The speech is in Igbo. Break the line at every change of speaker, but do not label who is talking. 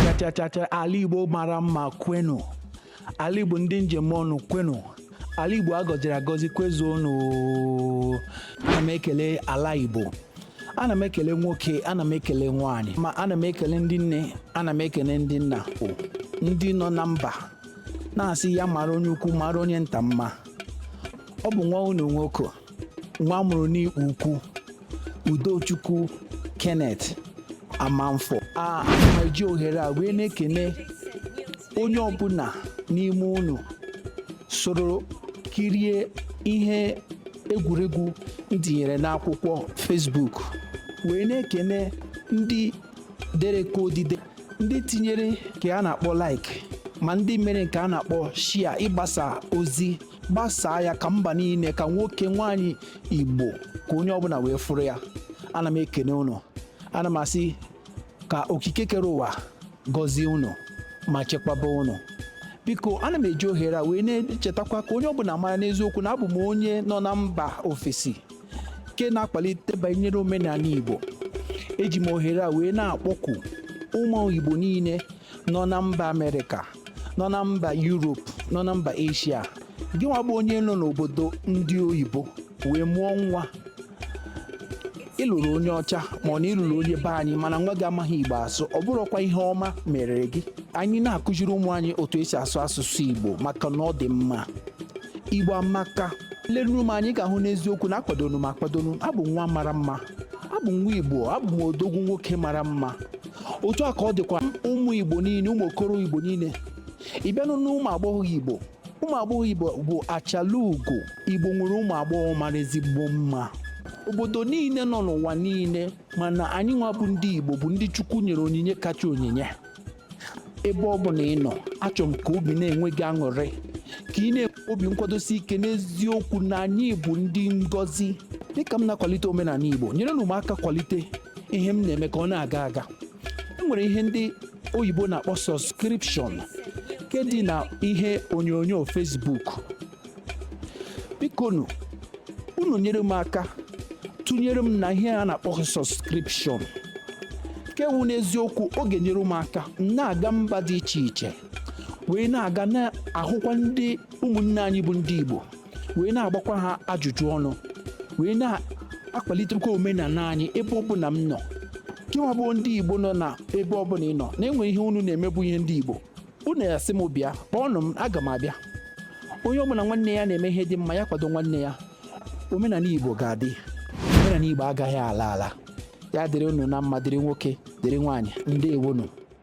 chachachacha ala igbo mara mma kwenu ala igbo ndị m ji eme ọnụ kwenu ala igbo agọziri agọzi kwezuonu ana m ekele ala igbo ana m ekele nwoke ana m ekele nwaanyị ma ana m ekele ndị nne ana m ekele ndị nna o ndị nọ na mba na-asị ya mara onye ukwu mara onye nta mma ọ bụ nwa unu nwoke nwa amụrụ n'igbo ukwu udochukwu kenneth amanfo ana m eji ohere a wee na-ekene onye ọbụla n'ime unu soro kirie ihe egwuregwu m tinyere n'akwụkwọ Facebook wee na-ekene ndị dere ka odide ndị tinyere nke a na-akpọ like ma ndị mere nke a na-akpọ share ịgbasa ozi gbasaa ya ka mba niile ka nwoke nwaanyị igbo ka onye ọbụla wee fụrụ ya ana m ekene unu ana m asị ka okike kere ụwa gọzie unu ma chekwaba unu biko ana m eji ohere a wee na-echetakwa ka onye ọbụla mara n'eziokwu na abụ m onye nọ na mba ofesi nke na-akpalite banyere omenala igbo eji m ohere a wee na-akpọku ụmụ igbo niile nọ na mba amerịka nọ na mba yuropu nọ na mba eshia gị nwa bụ onye nọ n'obodo ndị oyibo wee mụọ nwa ị lụrụ onye ọcha ma ọ na ị lụrụ onye be anyị mana nwa gị amaghị igbo asụ ọ bụrọkwa ihe ọma mere gị anyị na-akụziri ụmụ anyị otu esi asụ asụsụ igbo maka na ọ dị mma igbo amaka lenụ m anya ị ga-ahụ n'eziokwu na akwadoro m akwado na abụ m nwa mara mma abụ m nwa igbo abụ m odogwu nwoke mara mma otu a ka ọ dịkwa ụmụ igbo niile ụmụ okoro igbo niile ị bịanụ n'ụmụ agbọghọ igbo ụmụ agbọghọ igbo bụ achala ugo igbo nwere ụmụ agbọghọ mara ezigbo mma obodo niile nọ n'ụwa niile mana anyị nwa bụ ndị igbo bụ ndị chukwu nyere onyinye kacha onyinye ebe ọ bụla ị nọ achọrọ m ka obi na-enwe gị aṅụrị ka ị na-enwe obi nkwadosi ike n'eziokwu na anyị bụ ndị ngọzi dịka m na-akwalite omenala igbo nyerenụ m aka kwalite ihe m na-eme ka ọ na-aga aga e nwere ihe ndị oyibo na-akpọ subscription nke dị na ihe onyonyo Facebook bikonu unu nyere m aka tụnyere m na ihe a na-akpọ subscription nke wụ n'eziokwu ọ ga-enyere m aka m na-aga mba dị iche iche wee na-aga na-ahụkwa ndị ụmụnne anyị bụ ndị Igbo wee na-agbakwa ha ajụjụ ọnụ wee na-akwalitekwa omenala anyị ebe ọ bụla m nọ gịnwa bụ ndị igbo nọ na ebe ọ bụla ị nọ na-enwe ihe unu na-emebu ihe ndị igbo unu ya-asị m bịa kpọọnụ m aga m abịa onye ọbụla nwanne ya na-eme ihe dị mma ya kwado nwanne ya omenala igbo ga-adị omenala igbo agaghị ala ala ya dịrị unu na mma dịrị nwoke dịrị nwaanyị ndewonu